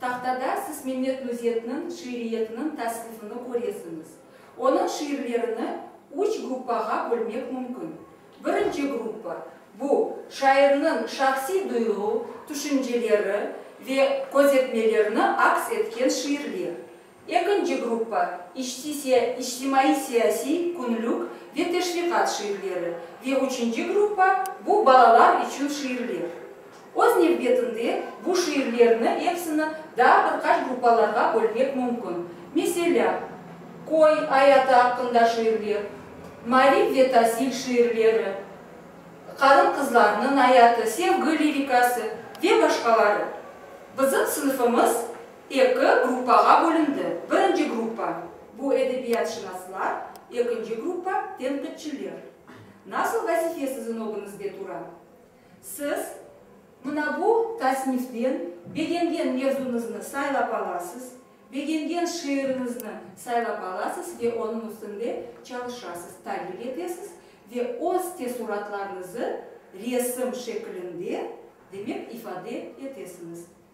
Tahtada siz Mehmet Nuzetniñ şiiriyetiniñ tasnifini köresiñiz. Onıñ şiirlerini üç gruppağa bölmek mümkün. Birinci gruppa, bu, şairniñ şahsiy duyğu, tüşünceleri ve közetmelerini aks etken şiirler. Ekinci gruppa, içtimaiy-siyasiy, künlük ve teşviqat şiirleri, ve üçünci gruppa, bu balalar içün şiirler. Öz nevbetinde, bu şiirlerni episini daa bir qaç gruppalarğa bölmek mümkün, meselâ, köy ayatı aqqında şiirler, maarif ve tasil şiirleri, qarın-qızlarnıñ ayatı, sevgi lirikası ve başqaları. Bizim sınıfımız. Eki gruppağa bölündi. Birinci gruppa, bu edebiyatşınaslar, ekinci gruppa, tenqitçiler. Nasıl vazife siziñ ögüñizde tura? Siz. Mına bu tasniften begengen mevzuñıznı saylap alasız, begengen şiiriñizni saylap alasız ve onıñ üstünde çalışasız, taqip etesiz ve öz teessuratlarıñızı resim şekilinde, demek, ifade etesiñiz.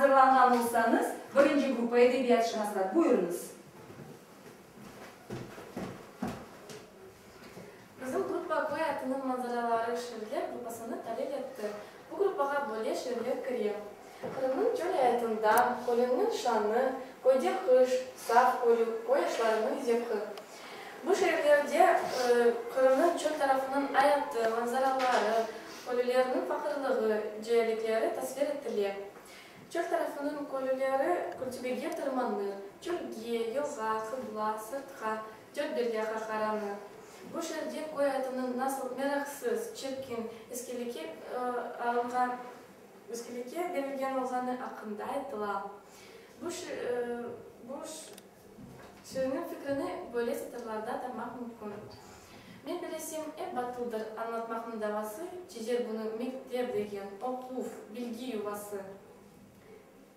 azırlanğan olsañız, birinci gruppa edebiyatşınaslar, buyurıñız. Bizim gruppa köy atınıñ manzaraları şiirler gruppasını talil etti. Bu gruppağa böyle şiirler kire. Qırımnıñ çöl ayatında, kölüñniñ şanı, köyde qış, saf körüv, köy yaşlarınıñ zevqi. Bu şiirlerde Qırımnıñ çöl tarafınıñ ayatı, manzaraları, kölülerniñ faqırlığı, ceelikleri tasvir etile. Çöl tarafınıñ kölüleri kültübege tırmanır, çölge, yılğa, qıbla, sırtqa, Dört belge qahtaranı. Bu şerde köy atınıñ nasıl meraqsız, çirkin, iskeleke alınğan, iskeleke berilgen olğanı aqqında aytıla. Bu bu şiirniñ fikrini böyle satırlarda tamaq mümkün, Men bilesem, ep batıldır añlatmaqnıñ davası, çezer bunı mektep degen, oquv, bilgi yuvası.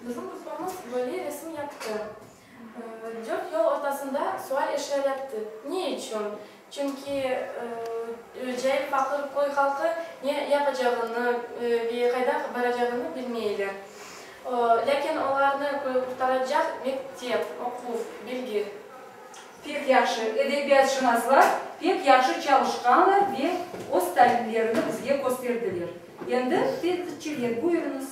Bizim grupamız böyle resim yaptı. Dört yol ortasında sual eşya yaptı. Ne içün? Çünki cayır paqır köy halqı ne yapacağını ve qayda baracağını bilmeyler. Lâkin olarnı qurtaracaq mektep, oquv, bilgi. Pek yahşı, edebiyatşınaslar pek yahşı çalışqanlar ve öz talimlerini bizge kösterdiler. Endi tenqitçiler, buyurıñız.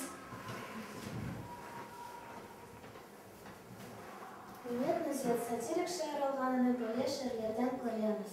Millet Nazir, satirik şair olğanını böyle şiirlerden köremiz.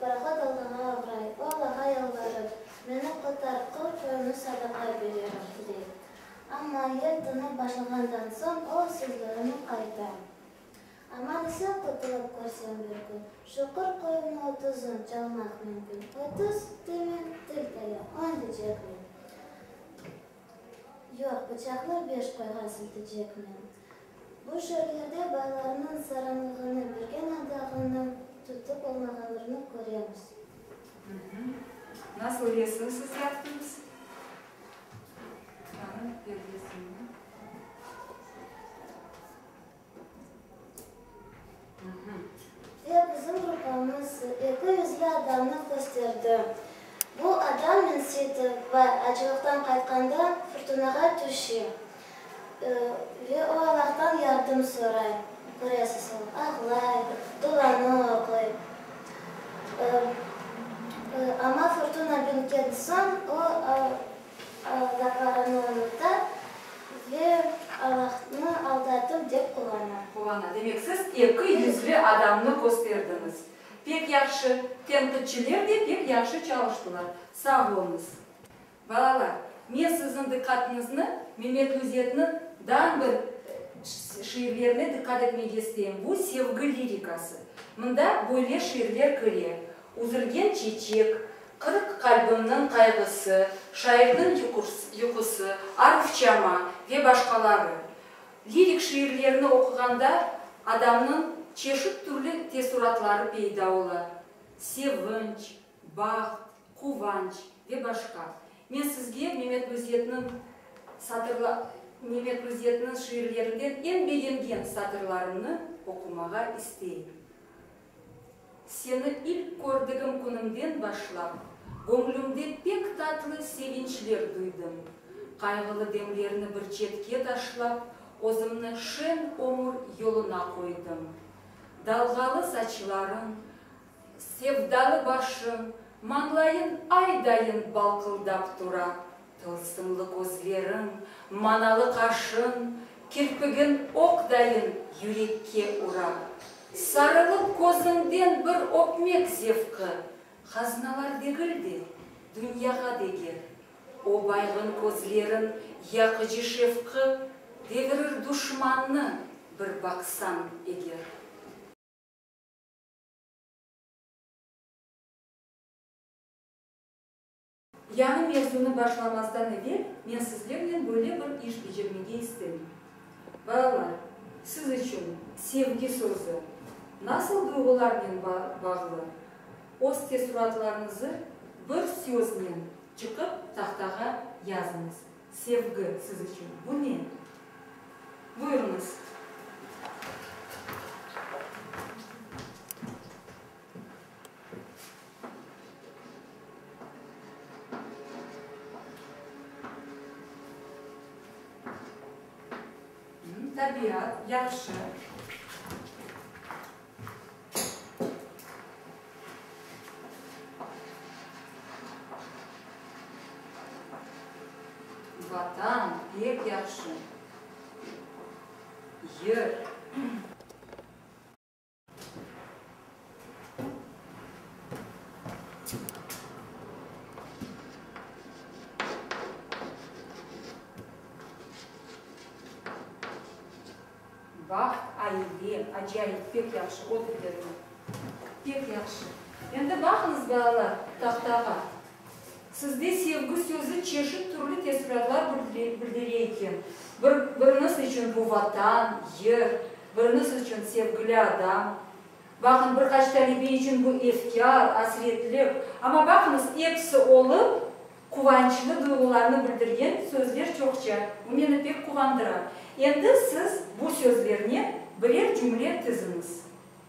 Parahod Allağa oğray, o Allağa yalvarır, Meni qurtar, qul qoyunı sadaqa bererim, dey. Amma yer tınıp başlağandan soñ o sözlerini qayta. Aman isen qutulup körsem bir kün, şuqır qoyunı otuzun çalmaq mümkün, otuz, demen, til taya, on, deycekmen. Yoq, bıçaqlar beş qoyğa siltecekmi? Bu şeerlerde baylarnıñ saranlığını bergen adağını tutıp olmağanlarını köremiz. Nasıl resim siz yaptıñız? Tanıp bir resimni. Ve bizim grupamız eki yüzli adamnı kösterdi. Bu adam minsitip ve acılıqtan qaytqanda furtunağa tüşe. Ve o Allahtan yardım soray, köresiz, o ağlay, duanı oquy. Amma furtuna bitken soñ o Aldatlarını unuta ve Allahnı aldatıv dep qulana. Qulana. Demek, siz eki yüzli adamnı kösterdiñiz. Pek yahşı. Tenqitçiler de pek yahşı çalıştılar. Sağ oluñız. Balalar, men siziñ diqqatıñıznı Memetlüzetniñ dan bir şiirlerine diqqat etmege isteyim. Bu sevgi lirikası. Mında böyle şiirler kire, Üzülgen çeçek, qırıq qalbimniñ qayğısı, şairniñ yuqusı, Arufçama ve başqaları. Lirik şiirlerini oquğanda adamnıñ çeşit türlü teessuratları peyda ola, sevinç, baht, quvanç ve başqa. Men sizge Memet Müzzetniñ şiirlerinden eñ begengen satırlarımnı oqumağa isteyim. Seni ilk kördigim künimden başlap, göñlümde pek tatlı sevinçler duydım. Qayğılı demlerni bir çetke taşlap, özümni şeñ ömür yoluna qoydım. Dalğalı saçlarıñ, sevdalı başıñ, mañlayıñ ay dayın balqıldap tura. Tılsımlı közleriñ, manalı qaşıñ, kirpigiñ oq dayın yürekke ura. Sarılıp közüñden bir öpmek zevqi, haznalar degil de, dünyağa deger. O baygın közleriñ yaqıcı şefqi devirir duşmannı bir baqsañ eger. Yañı mevzunı başlamastan evel men sizlernen böyle bir iş becermege istem. Balalar, siz içün sevgi sözü nasıl duyğularnen bağlı? Öz teessuratlarıñızı bir söznen çıqıp tahtağa yazıñız. Sevgi siz içün bu ne? Buyurıñız. Tabiat, yahşı. Vatan, pek yahşı. Yır. Baht, aile, acayip, pek yahşı, oturıverin. Pek yahşı. Endi baqıñız, balalar, tahtağa. Sizde sevgi sözü çeşit türlü tesüratlar bildire eken. Biriñiz içün bu Vatan, yer, biriñiz içün sevgili adam. Baqıñ, bir qaç talebe içün bu efkâr, asretlik. Amma baqıñız, episi olıp, quvançlı duyğularnı bildirgen sözler çoqça. Bu meni pek quvandıra. Endi siz bu sözlernen birer cümle tiziñiz.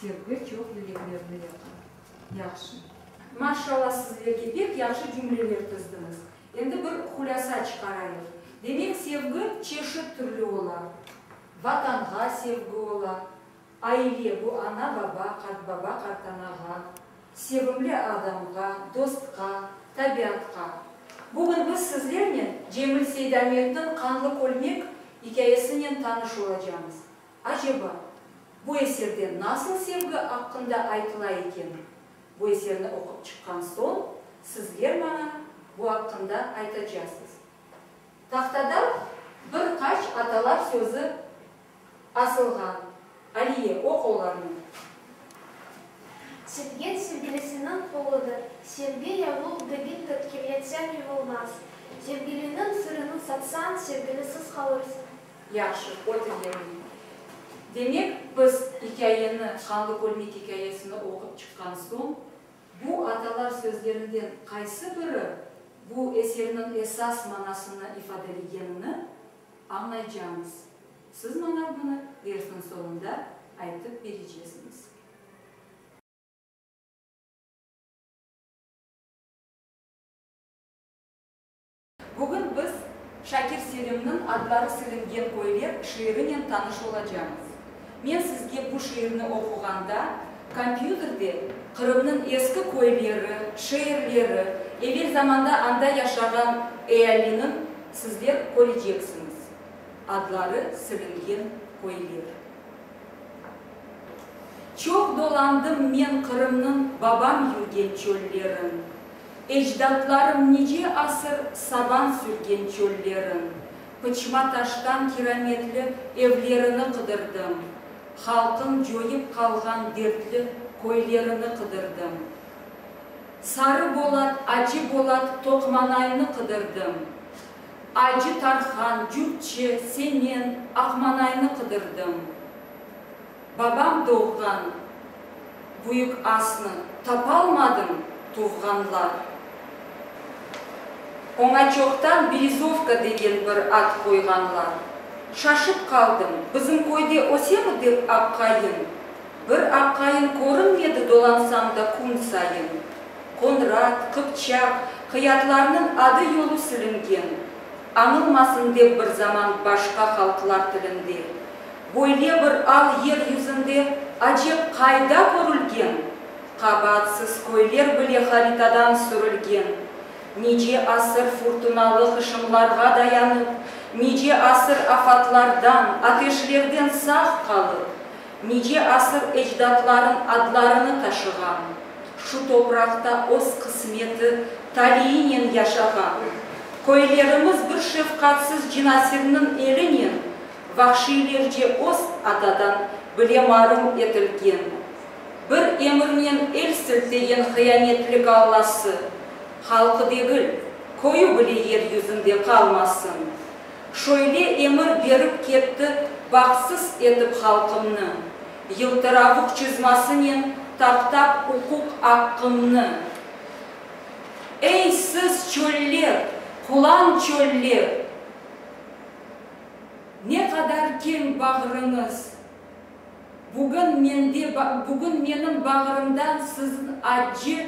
Sevgi çoq yüreklerni yaka. Yahşı. Maşşalla sizlerge pek yahşı cümleler tizdiñiz. Endi bir hulâsa çıqarayıq. Demek sevgi çeşit türlü ola. Vatanğa sevgi ola. Aile, bu ana baba, qartbaba qartanağa, sevimli adamğa, dostqa, tabiatqa. Bugün biz sizlernen Cemil Seydametniñ Qanlı kölmek ikâyesinen tanış olacamız. Aceba, bu eserde nasıl sevgi aqqında aytıla eken? Bu eserni oqup çıqqan soñ, sizler maña bu aqqında aytacasız. Tahtada bir qaç atalar sözü asılğan. Aliye, oq olarnı. Sevgen sevgilisiniñ qoludır. Sevgi yavuq degil tıt ki, yetsem yuvulmaz. Sevgiliniñ sırını satsañ, sevgilisiz qalırsıñ. Yahşı, oter yerine. Demek, biz ikâyeni, Qanlı Kölmek ikâyesini oqup çıqqan soñ, bu atalar sözlerinden qaysı biri bu eserniñ esas manasını ifadelegenini añlaycağıñız. Siz maña bunı dersniñ soñunda aytıp berecesiñiz. Bugün biz Şakir Selimniñ Adları silingen köyler şiirinen tanış olacamız. Men sizge bu şiirni oquğanda, kompyuterde Qırımnıñ eski köyleri, şeerleri, evel zamanda anda yaşağan ealiniñ sizler köreceksiñiz. Adları silingen köyler. Çoq dolandım men Qırımnıñ babam yürgen çöllerin. Ecdatlarım nice asır saban sürgen çöllerin, pıçma taştan kirametli evlerini qıdırdım, halqın coyıp qalğan dertli köylerini qıdırdım, Sarı Bolat, Acı Bolat, Toqmanaynı qıdırdım, Acı Tarhan, Cürtçi, Semen, Aqmanaynı qıdırdım. Babam doğğan büyük asnı tapalmadım, tuvğanlar. Oña çoqtan Berezovka degen bir ad qoyğanlar. Şaşıp qaldım, bizim köyde ösemi dep aqayın. Bir aqayın körünmedi dolansam da kün sayın. Qonrat, Qıpçaq, Qıyatlarnıñ adı-yolu silingen. Añılmasın dep bir zaman başqa halqlar tilinde böyle bir al yer yüzünde acep qayda körülgen? Qabaatsız köyler bile haritadan sürülgen. Nice asır furtunalı hışımlarğa dayanıp, nice asır afatlardan, ateşlerden sağ qalıp, nice asır ecdatlarıñ adlarını taşığan, şu topraqta öz qısmeti taliyinen yaşağan köylerimiz bir şefqatsız cinasirniñ elinen vahşiylerce öz atadan bile marum etilgen, bir emirnen el siltegen hıyanetli gallası, halqı degil, köyü bile yer yüzünde qalmasın, Şöyle emir berip ketti Bağsız etip halqımnı, Yıltıravuq çızmasınen Taptap uquq aqqımnı. Ey, siz, çöller, qulan çöller! Ne qadar keñ bağrıñız! Bugün mende, bugün menim bağrımdan Sizin acı,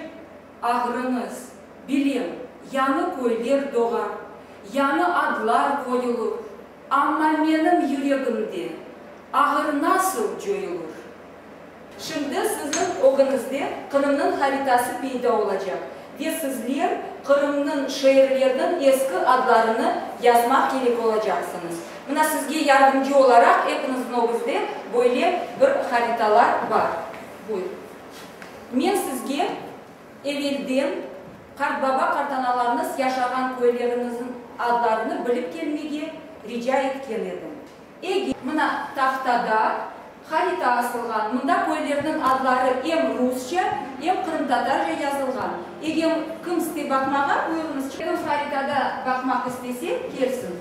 Ağrıñız, bilem, yañı köyler doğar, yañı adlar qoyulur, amma menim yüregimde ağır nasıl coyulur? Şimdi siziñ ögüñizde Qırımnıñ haritası peyda olacaq ve sizler Qırımnıñ şeerleriniñ eski adlarını yazmaq kerek olacaqsıñız. Mına sizge yardımcı olaraq epiñizniñ ögüzde böyle bir haritalar bar. Buyur. Men sizge evelden qartbaba-qartanalarnıs yaşağan köyleriñizniñ adlarını bilip kelmege rica etken edim. Eger. Mına, tahtada harita asılğan. Mında köylerniñ adları em rusça, em qırımtatarca yazılğan. Egem kim iste baqmağa, buyurıñız. Kim haritada baqmaq istese, kelsin.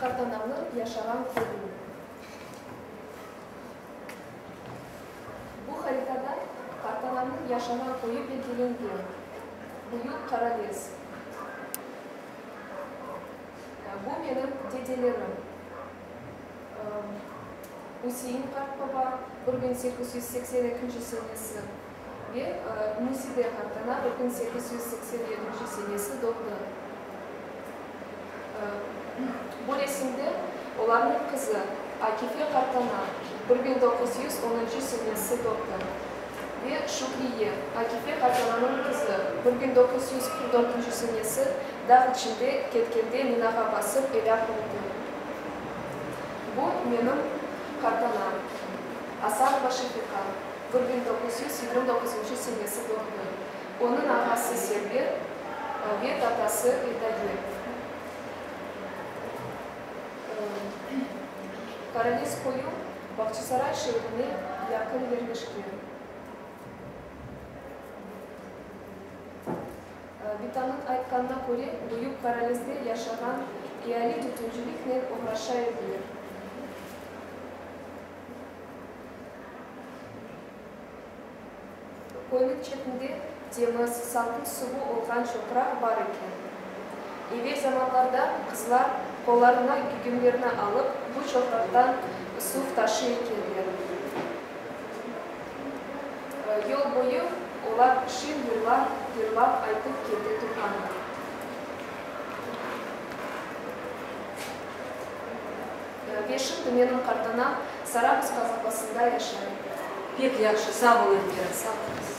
Qartananı yaşağan köyüni. Bu haritada Qartananıñ yaşağan köyü belgilengen. Büyük Qarabes. Bu menim dedelerim. Üsein qartbaba, bir biñ sekiz yüz seksen ekinci senesi. ve Nuside Kartana bir kün sekiz yüz seksen yedinci senesi doğdı. Bu resimde olarnıñ qızı Akife Kartana bir bin doquz yüz onuncu senesi doğdı ve Şükriye, Akife Kartananıñ qızı, bir bin doquz yüz qırq dörtünci senesi dağ içinde ketkende minağa basıp elâk oldı. Bu menim Kartanam, Asanova Şefiqa. Bir biñ toquz yüz yigirmi doquzuncu senesi doğumlı. Onıñ ağası Server ve tatası Edaye. Karalis koyu Bağçasaray şeerine yaqın yerleşken. Bitanıñ aytqanına köre, büyük Karalisde yaşağan eali tütünciliknen oğraşa ediler. Köyniñ çetinde temiz, salqın suvu olğan çoqraq bar eken. Evel zamanlarda qızlar qollarına gügümlerni alıp, bu çoqraqtan suv taşıy ekenler. Yol boyu olar şiir yırlap, yırlap aytıp kete turğanlar. Beşim tümeniñ qartana Sarabuz qazabasında yaşayım. Pek yahşı, sağ ol Elvira, sağ olasıñ.